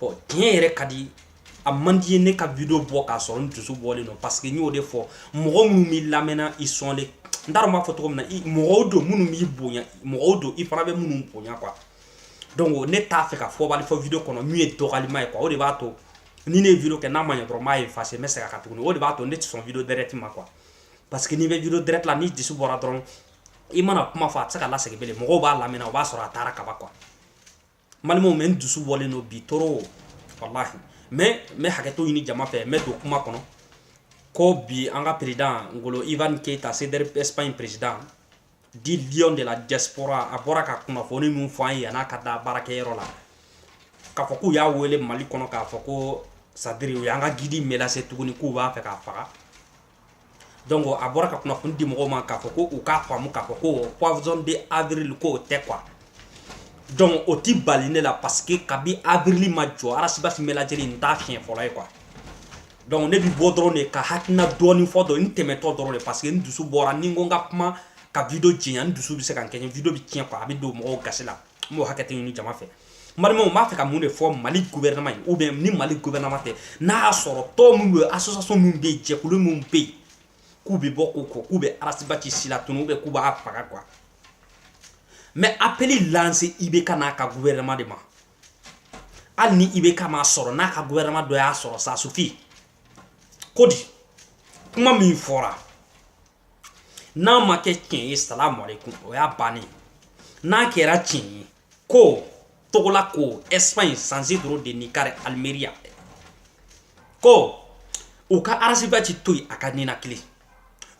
bɔn tiɲɛ yɛrɛ ka di a man di n ye ne ka video bɔ k'a sɔrɔ n dusu bɔlen don parce que n y'o de fɔ mɔgɔ minnu b'i lamɛnna ils sont les n t'a dɔn n b'a fɔ cogo min na mɔgɔw don minnu b'i bonya mɔgɔw don i fana bɛ minnu bonya quoi donc ne t'a fɛ ka fɔbali fɔ video kɔnɔ min ye dɔgɔlima ye quoi o de b'a to ni ne ye video kɛ n'a ma ɲɛ dɔrɔn n b'a effacer n bɛ segin a kan tuguni o de b'a to ne tɛ sɔn video direct ma quoi parce que n'i bɛ video direct la n'i dusu bɔra dɔrɔn i mana kuma fɔ a tɛ se ka lasegin bilen mɔgɔw b'a lamɛnna o b'a sɔrɔ a taara kaba quoi n balimaw mais n dusu bɔlen don bi trop walahi mais n bɛ hakɛto ɲini jama fɛ n bɛ don kuma kɔnɔ ko bi an ka président ngolo ivan keita CDR espagne président dit lion de la diaspora a bɔra ka kunnafoni min fɔ an ye yan'a ka taa baarakɛyɔrɔ la k'a fɔ k'u y'a wele mali kɔnɔ k'a fɔ ko c'est-à-dire u y'an ka guide menacer tuguni k'u b'a fɛ k'a faga donc a bɔra ka kunnafoni di mɔgɔw ma k'a fɔ ko u k'a faamu k'a fɔ ko poisson de avril ko tɛ quoi donc o tɛ bali ne la parce que kabi avril ma jɔ Ras Bath menaceli in t'a siɲɛ fɔlɔ ye quoi donc ne bɛ bɔ dɔrɔn de ka n hakilina dɔɔni fɔ dɔn n tɛmɛtɔ dɔrɔn de parce que n dusu bɔra ni n ko n ka kuma ka video janya n dusu bɛ se ka kɛ video bɛ tiɲɛ quoi a bɛ don mɔgɔw gasi la n bɛ hakɛto ɲini jama fɛ n balimaw n b'a fɛ ka mun de fɔ mali gouvernement ye ou bien ni mali gouvernement tɛ n'a y'a sɔrɔ tɔn min bɛ association min bɛ yen jɛkulu min bɛ yen k'u bɛ bɔ k'u ko k'u bɛ Ras Bath silatunu ou bien k'u b'a faga quoi n bɛ appel lancer IBK n'a ka gouvernement de ma hali ni IBK m'a sɔrɔ n'a ka gouvernement dɔ y'a sɔrɔ ça suffit ko di kuma min fɔra n'a ma kɛ tiɲɛ ye salamu aleykum o y'a bannen n'a kɛra tiɲɛ ye ko togola ko espagne San Isidro de Nijar almeria ko u ka Ras Bath to yen a ka ninakili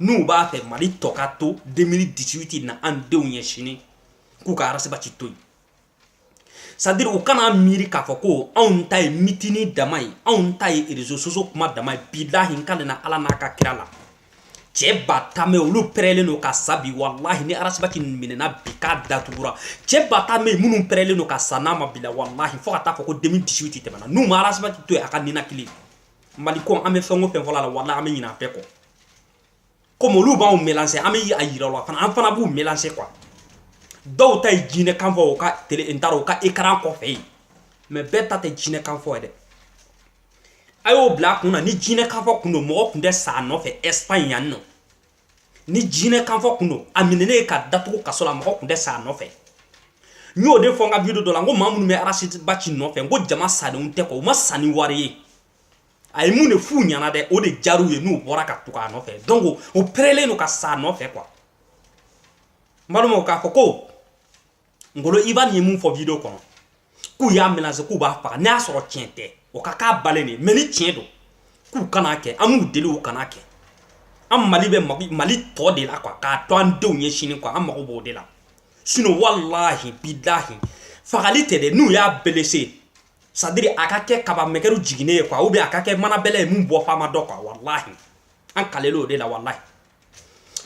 n'u b'a fɛ mali tɔ ka to 2018 na an denw ye sini k'u ka Ras Bath to yen c'est-à-dire u kan'a miiri k'a fɔ ko anw ta ye meeting dama ye anw ta ye réseaux sociaux kuma dama ye bilahi n kalenna ala n'a ka kira la cɛ ba tan bɛ olu pɛrɛlen don ka sa bi walahi ni Ras Bath minɛna bi k'a datugura cɛ ba tan bɛ minnu pɛrɛlen don ka sa n'a ma bila walahi fo a ka taa fɔ ko 2018 tɛmɛna n'u ma Ras Bath to yen a ka ninakili mali ko an bɛ fɛn o fɛn fɔ la walahi an bɛ ɲinɛ a bɛɛ kɔ comme olu b'anw menacer an bɛ a yira u la fana an fana b'u menacer quoi dɔw ta ye jinɛ kan fɔ u ka tele n taara u ka écran kɔfɛ yen mais bɛɛ ta tɛ jinɛ kan fɔ ye dɛ a y'o bila a kun na ni jinɛ kan fɔ kun don mɔgɔ kun tɛ sa a nɔfɛ Espagne yan nɔ ni jinɛ kan fɔ kun don a minɛnen ye ka datugu kaso la mɔgɔ kun tɛ sa a nɔfɛ n y'o de fɔ n ka video dɔ la n ko maa minnu bɛ Ras Bath nɔfɛ n ko jama sadenw tɛ kɔ u ma sa ni wari ye a ye mun de f'u ɲɛna dɛ o de jar'u ye n'u bɔra ka tugu a nɔfɛ donc u perelen don ka sa a nɔfɛ quoi n balimaw k'a fɔ ko ngolo ivan ye min fɔ video kɔnɔ k'u y'a menacé k'u b'a faga n'a y'a sɔrɔ tiɲɛ tɛ o ka k'a balen de mais ni tiɲɛ don k'u kan'a kɛ an b'u deli u kan'a kɛ an mali bɛ mali tɔ de la quoi k'a to an denw ye sini quoi an mago b'o de la sinon walahi bilahi fagali tɛ dɛ n'u y'a blessé c'est-à-dire a ka kɛ kaba mɛkɛru jiginnen ye quoi ou bien a ka kɛ mana bɛlɛ ye min bɔ fama dɔ quoi walahi an kalelen o de la walahi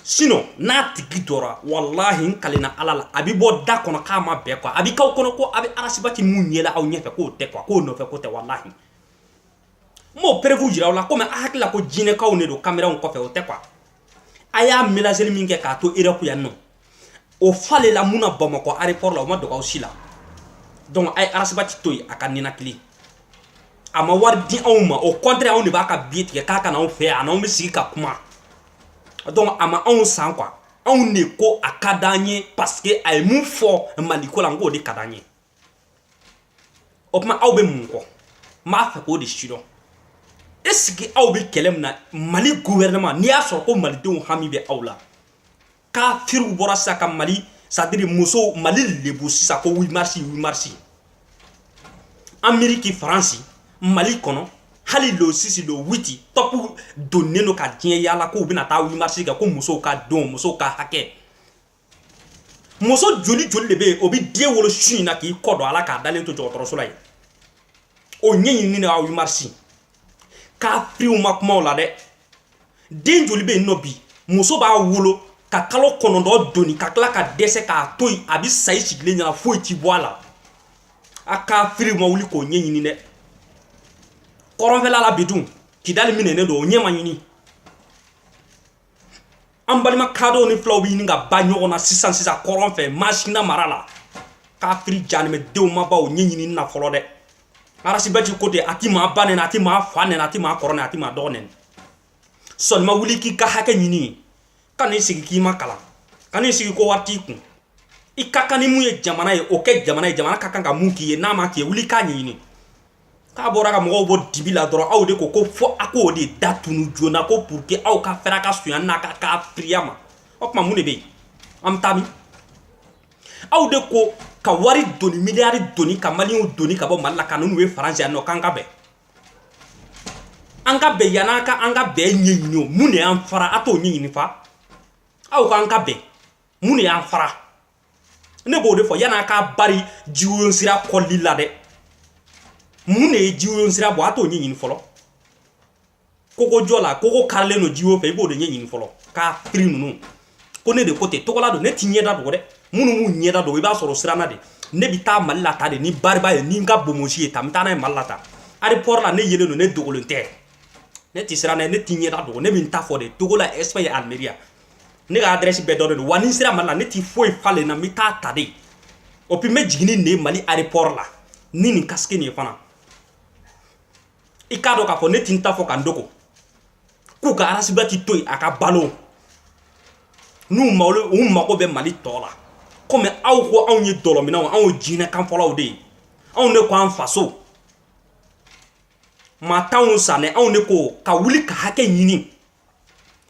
sinon n'a tigi dɔra walahi n kalenna ala la a bi bɔ da kɔnɔ k'a ma bɛɛ quoi a bi k'aw kɔnɔ ko a bɛ arasibati min ye la aw ɲɛfɛ k'o tɛ quoi k'o nɔfɛ ko tɛ walahi n b'o preuve jira aw la komi a hakili la ko jinɛkaw de don kameranw kɔfɛ o tɛ quoi a y'a menaceli min kɛ k'a to europe yan nɔ o fale la mun na bamakɔ aéroport la o ma dogo aw si la donc a ye arasibati to yen a ka ninakili a ma wari di anw ma au contraire anw de b'a ka biye tigɛ k'a ka na anw fɛ yan a n'anw bɛ sigi ka kuma donc a ma anw san quoi anw de ko a ka d'an ye parce que a ye min fɔ maliko la n k'o de ka d'an ye o tuma aw bɛ mun kɔ maa fɛ k'o de sidɔn est-ce que aw bɛ kɛlɛ min na mali gouvernement n'i y'a sɔrɔ ko malidenw hami bɛ aw la kafiriw bɔra sa ka mali c'est-à-dire musow mali lebu sisan ko huit mars huit mars ameriki faransi mali kɔnɔ hali le six le huit tɔpu donnen don ka diɲɛ yaala k'u bɛna taa huit mars kɛ ko musow ka don musow ka hakɛ muso joli joli de bɛ yen o bɛ den wolo su in na k'i kɔ don a la k'a dalen to dɔgɔtɔrɔso la yen o ɲɛɲinini na huit mars kafiriw ma kuma o la dɛ den joli bɛ yen nɔ bi muso b'a wolo ka kalo kɔnɔntɔn doni ka tila ka dɛsɛ k'a to yen a bɛ sa i sigilen ɲɛna foyi ti bɔ a la a kafiriw ma wuli k'o ɲɛɲini dɛ kɔrɔnfɛla la bi dun kidali minɛnen don o ɲɛ ma ɲini an balima kadɔw ni fulaw bɛ ɲini ka ban ɲɔgɔn na sisan sisan kɔrɔn fɛ masina mara la kafiri janimɛdenw ma bɔ o ɲɛ ɲini na fɔlɔ dɛ arasibɛti ko ten a ti maa ba neni a ti maa fa neni a ti maa kɔrɔ neni a ti maa dɔgɔ neni sɔnima wuli k'i ka hakɛ ɲini kan'i sigi k'i ma kalan kan'i sigi ko wari t'i kun i ka kan ni min ye jamana ye o kɛ jamana ye jamana ka kan ka min k'i ye n'a ma k'i ye wuli k'a ɲɛɲini k'a bɔra ka mɔgɔw bɔ dibi la dɔrɔn aw de ko ko fo a k'o de da tunu joona ko pour que aw ka fɛrɛ ka suya n'a ka kafiriya ma o tuma mun de bɛ yen an bɛ taa min aw de ko ka wari doni miliyari doni ka maliyɛnw doni ka bɔ mali la ka n'u ye faransi yan nɔ k'an ka bɛn an ka bɛn yan an ka an ka bɛn ɲɛɲini o mun de y'an fara a t'o ɲɛɲini fa aw k'an ka bɛn mun de y'an fara ne b'o de fɔ yanni a ka bari jiwoyo sira kɔli la dɛ mun de ye jiwoyo sira bɔ a t'o ɲɛɲini fɔlɔ kogo jɔ la kogo karilen don jiwo fɛ i b'o de ɲɛɲini fɔlɔ kafiri ninnu ko ne de ko ten togola don ne ti ɲɛda dogo dɛ minnu b'u ɲɛda dogo i b'a sɔrɔ siranna de ne bɛ taa mali la tan de ni bariba ye ni n ka bomosi ye tan n bɛ taa n'a ye mali la tan aéroport la ne yelen don ne dogolen tɛ ne ti siranna ne ti ɲɛda dogo ne bɛ n ta fɔ de togola espagne almeria ne ka adrɛsi bɛɛ dɔnnen don wa ni n sera mali la ne ti foyi falen na n bɛ taa tan de o puis n bɛ jigin ni nin ye mali aéroport la ni nin kasike nin ye fana i k'a dɔn k'a fɔ ne ti n ta fɔ ka n dogo k'u ka arasibati to yen a ka balo n'u malo u mago bɛ mali tɔ la komi aw ko anw ye dɔlɔminnaw anw ye jinɛ kanfɔlaw de ye anw de ko an faso maa t'anw sanɛ anw de ko ka wuli ka hakɛ ɲini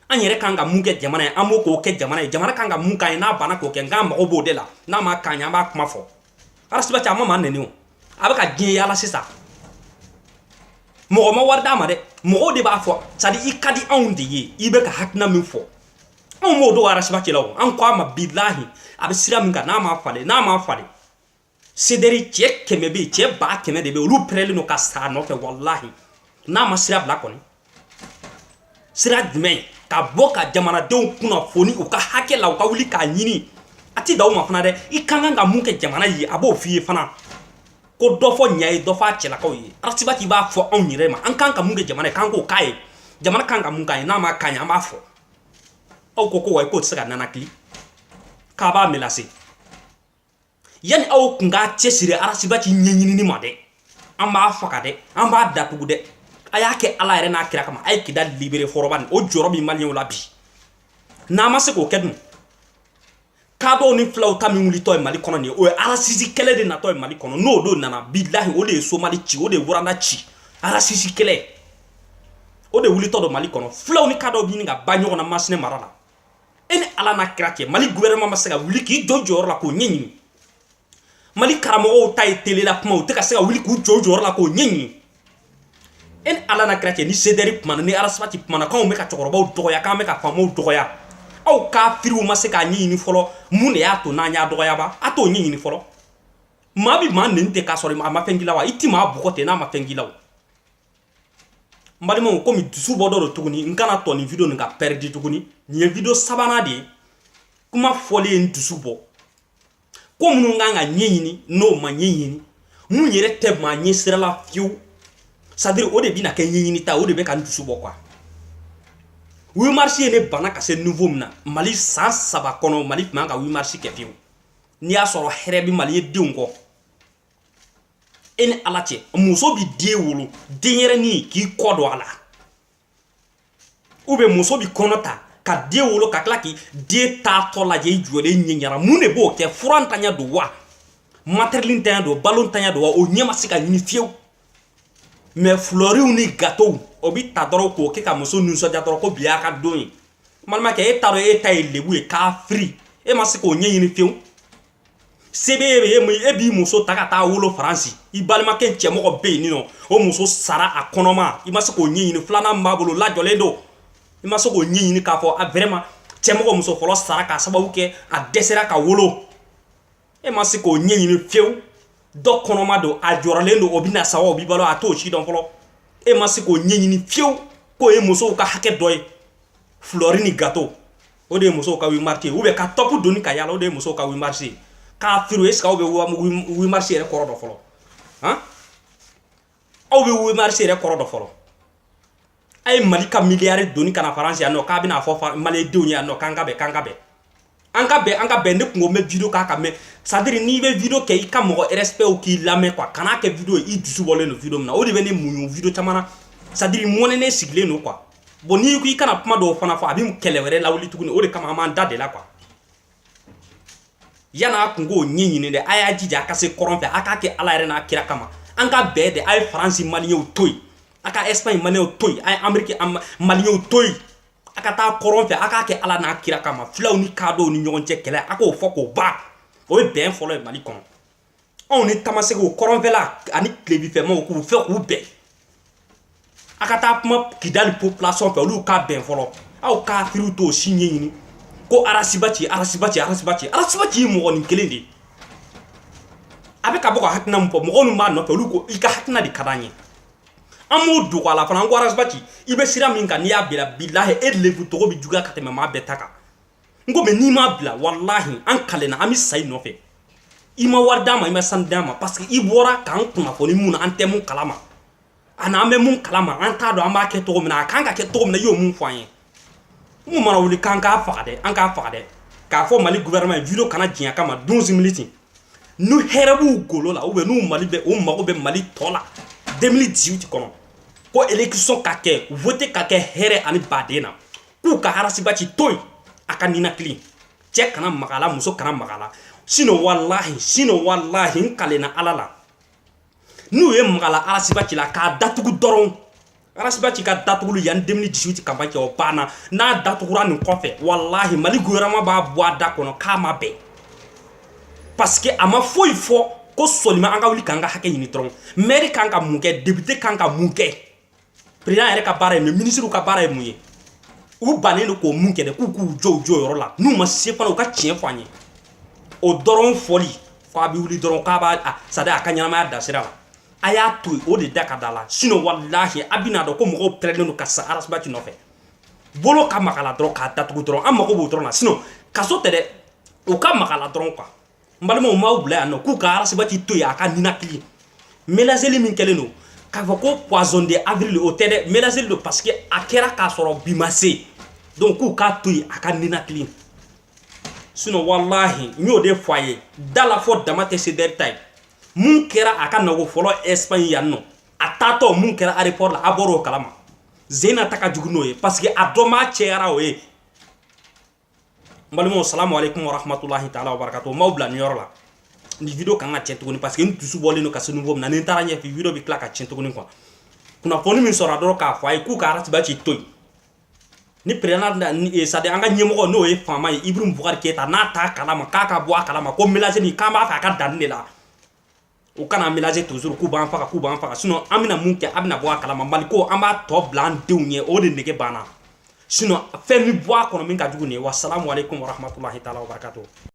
an yɛrɛ kan ka mun kɛ jamana ye an b'o k'o kɛ jamana ye jamana kan ka mun k'an ye n'a banna k'o kɛ nk'an mago b'o de la n'a ma k'an ye an b'a kuma fɔ arasibati a ma maa neni o a bɛ ka diɲɛ yaala sisan mɔgɔ ma wari d'a ma dɛ mɔgɔw de b'a fɔ c'est à dire i ka di anw de ye i bɛ ka hakilina min fɔ anw b'o dɔn arasibati la o an ko a ma bilahi a bɛ sira min kan n'a ma falen n'a ma falen sederi cɛ kɛmɛ bɛ yen cɛ ba kɛmɛ de bɛ yen olu pɛrɛlen don ka sa a nɔfɛ walahi n'a ma sira bila kɔni sira jumɛn ka bɔ ka jamanadenw kunnafoni u ka hakɛ la u ka wuli k'a ɲini a ti da u ma fana dɛ i ka kan ka mun kɛ jamana ye a b'o f'i ye fana ko dɔ fɔ ɲa ye dɔ fɔ a cɛlakaw ye arasibati b'a fɔ anw yɛrɛ ma an kan ka mun kɛ jamana ye k'an k'o k'a ye jamana kan ka mun k'a ye n'a ma k'a ye an b'a fɔ aw ko ko wa k'o tɛ se ka nanakili k'a b'a melase yanni aw kun k'a cɛsiri arasibati ɲɛɲinini ma dɛ an b'a faga dɛ an b'a datugu dɛ a y'a kɛ ala yɛrɛ n'a kira kama a ye kidali libere fɔlɔ bani o jɔrɔ bɛ maliyɛnw la bi n'an ma se k'o kɛ dun kadɔw ni filaw ta min wulitɔ ye mali kɔnɔ nin ye o ye arasisi kɛlɛ de natɔ ye mali kɔnɔ n'o don nana bilahi o de ye somali ci o de ye wuranda ci arasisi kɛlɛ o de wulitɔ don mali kɔnɔ filaw ni kadɔw bɛ ɲini ka ban ɲɔgɔn na masina mara la e ni ala n'a kira cɛ mali gouvernement ma se ka wuli k'i jɔ jɔyɔrɔ la k'o ɲɛɲini mali karamɔgɔw ta ye tele la kuma u tɛ ka se ka wuli k'u jɔ jɔyɔrɔ la k'o ɲɛɲini e ni ala n'a kira cɛ ni sederi kumana ni arasibati kumana k'anw bɛ ka cɛkɔrɔbaw dɔgɔya k'an bɛ ka faamaw dɔgɔya aw kafiriw ma se k'a ɲɛɲini fɔlɔ mun de y'a to n'an y'a dɔgɔya ba a t'o ɲɛɲini fɔlɔ maa bi maa neni ten k'a sɔrɔ a ma fɛn k'i la wa i ti maa bugɔ ten n'a ma fɛn k'i la wa n balimaw komi dusu bɔ dɔ don tuguni n kana to nin video nin ka pɛridi tuguni nin ye video sabanan de ye kuma fɔlen ye n dusu bɔ ko minnu kan ka ɲɛɲini n'o ma ɲɛɲini min yɛrɛ tɛ maa ɲɛ sira la fiyewu c'est à dire o de bɛna kɛ ɲɛɲini ta o de bɛ ka n dusu bɔ quoi huit mars ye ne bana ka se niveau min na mali san saba kɔnɔ mali tun man ka huit mars kɛ fiyewu n'i y'a sɔrɔ hɛrɛ bɛ maliyɛn denw kɔ e ni ala cɛ muso bi den wolo denyɛrɛnin k'i kɔ don a la ou bien muso bi kɔnɔ ta ka den wolo ka tila k'i den taatɔ lajɛ i jɔlen ɲɛ ɲɛna mun de b'o kɛ fura ntanya don wa matériel ntanya don balo ntanya don wa o ɲɛ ma se ka ɲini fiyewu mɛ fulɔriw ni gatow o bi ta dɔrɔn k'o kɛ ka muso nisɔndiya dɔrɔn ko bi y'a ka don ye balimakɛ e t'a dɔn e ta ye lebu ye kafiri e ma se k'o ɲɛɲini fiyewu se b'e ye e b'i muso ta ka taa wolo faransi i balimakɛ cɛmɔgɔ bɛ yen nin nɔ o muso sara a kɔnɔma i ma se k'o ɲɛɲini filanan b'a bolo lajɔlen don i ma se k'o ɲɛɲini k'a fɔ a vraiment cɛmɔgɔ muso fɔlɔ sara k'a sababu kɛ a dɛsɛra ka wolo e ma se k'o ɲɛɲini fiyewu dɔ kɔnɔma don a jɔrɔlen don o bɛna sa wa o bi balo a t'o si dɔn fɔlɔ e ma se k'o ɲɛɲini fiyewu k'o ye musow ka hakɛ dɔ ye fulɔri ni gato o de ye musow ka huit mars ye u bɛ ka tɔpu doni ka yala o de ye musow ka huit mars ye kafiri est-ce que i bɛ huit mars yɛrɛ kɔrɔ dɔn fɔlɔ han aw bɛ huit mars yɛrɛ kɔrɔ dɔn fɔlɔ a ye mali ka miliyari doni ka na faransi yan nɔ k'a bɛna fɔ malidenw ye yan nɔ k'an ka bɛn k'an ka bɛn an ka bɛn an ka bɛn ne kungo bɛ video k'a kan mɛn c'est à dire n'i bɛ video kɛ i ka mɔgɔ respect u k'i lamɛn quoi kan'a kɛ video ye i dusu bɔlen don video min na o de bɛ ne muɲu video caman na c'est à dire mɔnɛnen sigilen don quoi bon n'i ko i kana kuma dɔw fana fɔ a bɛ kɛlɛ wɛrɛ lawuli tuguni o de kama an b'an dade la quoi yan'a kunko ɲɛɲini dɛ a y'a jija a ka se kɔrɔn fɛ a k'a kɛ ala yɛrɛ n'a kira kama an ka bɛn dɛ a ye faransi maliyɛnw to yen a ka espagne maliyɛnw to yen a ye ameriki maliyɛnw to yen a ka taa kɔrɔn fɛ a k'a kɛ ala n'a kira kama filaw ni kaadɔw ni ɲɔgɔn cɛ kɛlɛ a k'o fɔ k'o ban o ye bɛn fɔlɔ ye mali kɔnɔ anw ni tamasɛkiw kɔrɔnfɛla ani tilebinfɛ maaw k'u fɛ k'u bɛn a ka taa kuma kidali population fɛ olu ka bɛn fɔlɔ aw kafiriw t'o si ɲɛɲini ko ras bath ras bath ras bath ras bath ye mɔgɔ nin kelen de ye a bɛ ka bɔ ka hakilina min fɔ mɔgɔ minnu b'a nɔfɛ olu ko i ka hakilina de ka d'an ye an b'o dogo a la fana an ko ras bath i bɛ sira min kan n'i y'a bila bilahi e lebu cogo bɛ juguya ka tɛmɛ maa bɛɛ ta kan n ko mɛ n'i m'a bila walahi an kalenna an bɛ sa i nɔfɛ i ma wari d'an ma i ma sanu d'an ma parce que i bɔra k'an kunnafoni mun na an tɛ mun kalama ani an bɛ mun kalama an t'a dɔn an b'a kɛ cogo min na a kan ka kɛ cogo min na i y'o mun fɔ an ye mun mana wuli k'an k'a faga dɛ an k'a faga dɛ k'a fɔ mali gouvernement ye video kana janya kama 12 minutes n'u hɛrɛ b'u golo la ou bien n'u mali bɛ u mago bɛ mali tɔ la 2018 kɔnɔ ko election ka kɛ vote ka kɛ hɛrɛ ani badenya k'u ka harasibati to yen a ka ninakili cɛ kana mag'a la muso kana mag'a la sinon walahi sinon walahi n kalenna ala la n'u ye magala arasibati la k'a datugu dɔrɔn arasibati ka datuguli yan 2018 campagne o banna n'a datugura nin kɔfɛ walahi mali gouvernement b'a bɔ a da kɔnɔ k'a ma bɛn parce que a ma foyi fɔ ko seulement an ka wuli k'an ka hakɛ ɲini dɔrɔn mɛri kan ka mun kɛ depite kan ka mun kɛ président yɛrɛ ka baara ye mun ye ministre ka baara ye mun ye u bannen don k'o mun kɛ dɛ k'u k'u jɔ u jɔyɔrɔ la n'u ma se fana u ka tiɲɛ fɔ an ye o dɔrɔn fɔli fɔ a bɛ wuli dɔrɔn k'a b'a sadi a ka ɲɛnamaya da sira la a y'a to yen o de da ka da la sinon walahi a bɛna dɔn ko mɔgɔw pɛrɛlen don ka sa arasibati nɔfɛ bolo ka mag'a la dɔrɔn k'a datugu dɔrɔn an mago b'o dɔrɔn na sinon kaso tɛ dɛ u ka mag'a la dɔrɔn quoi n balimaw m'aw bila yan nɔ k'u ka arasibati to yen a ka ninakili melanzeli min kɛlen don k'a fɔ ko poisson d'avril o tɛ dɛ melanzeli don parce que a kɛra k'a sɔrɔ bi ma se donc k'u k'a to yen a ka ninakili sinon walahi n y'o de fɔ a ye da la fɔ dama tɛ sedɛri ta ye mun kɛra a ka nako fɔlɔ espagne yan nɔ a taatɔ mun kɛra aéroport la a bɔr'o kalama zena ta ka jugu n'o ye parce que a dɔnbaa cayara o ye n balimaw salamu aleykum warahmatulahi taala wabarakatu m'aw bila nin yɔrɔ la ni video kan ka tiɲɛ tuguni parce que n dusu bɔlen don ka se niveau min na ni n taara ɲɛfɛ video bɛ tila ka tiɲɛ tuguni quoi kunnafoni min sɔrɔ dɔrɔn k'a fɔ a ye k'u ka arasibati to yen ni président da eh, sadi an ka ɲɛmɔgɔ n'o ye faama ye ibrahim bubakari keyita n'a t'a kalama k'a ka bɔ a kalama ko mélange nin k'an b'a fɛ a ka dan nin de la u kan'an mélanger toujours k'u b'an faga k'u b'an faga sinon an bɛna mun kɛ a bɛna bɔ a kalama Mali ko an b'a tɔ bila an denw ɲɛ o de nege banna sinon fɛn bɛ bɔ a kɔnɔ min ka jugu nin ye wa salamu aleyikomu wa rahmatulahi taala wa barakatuhu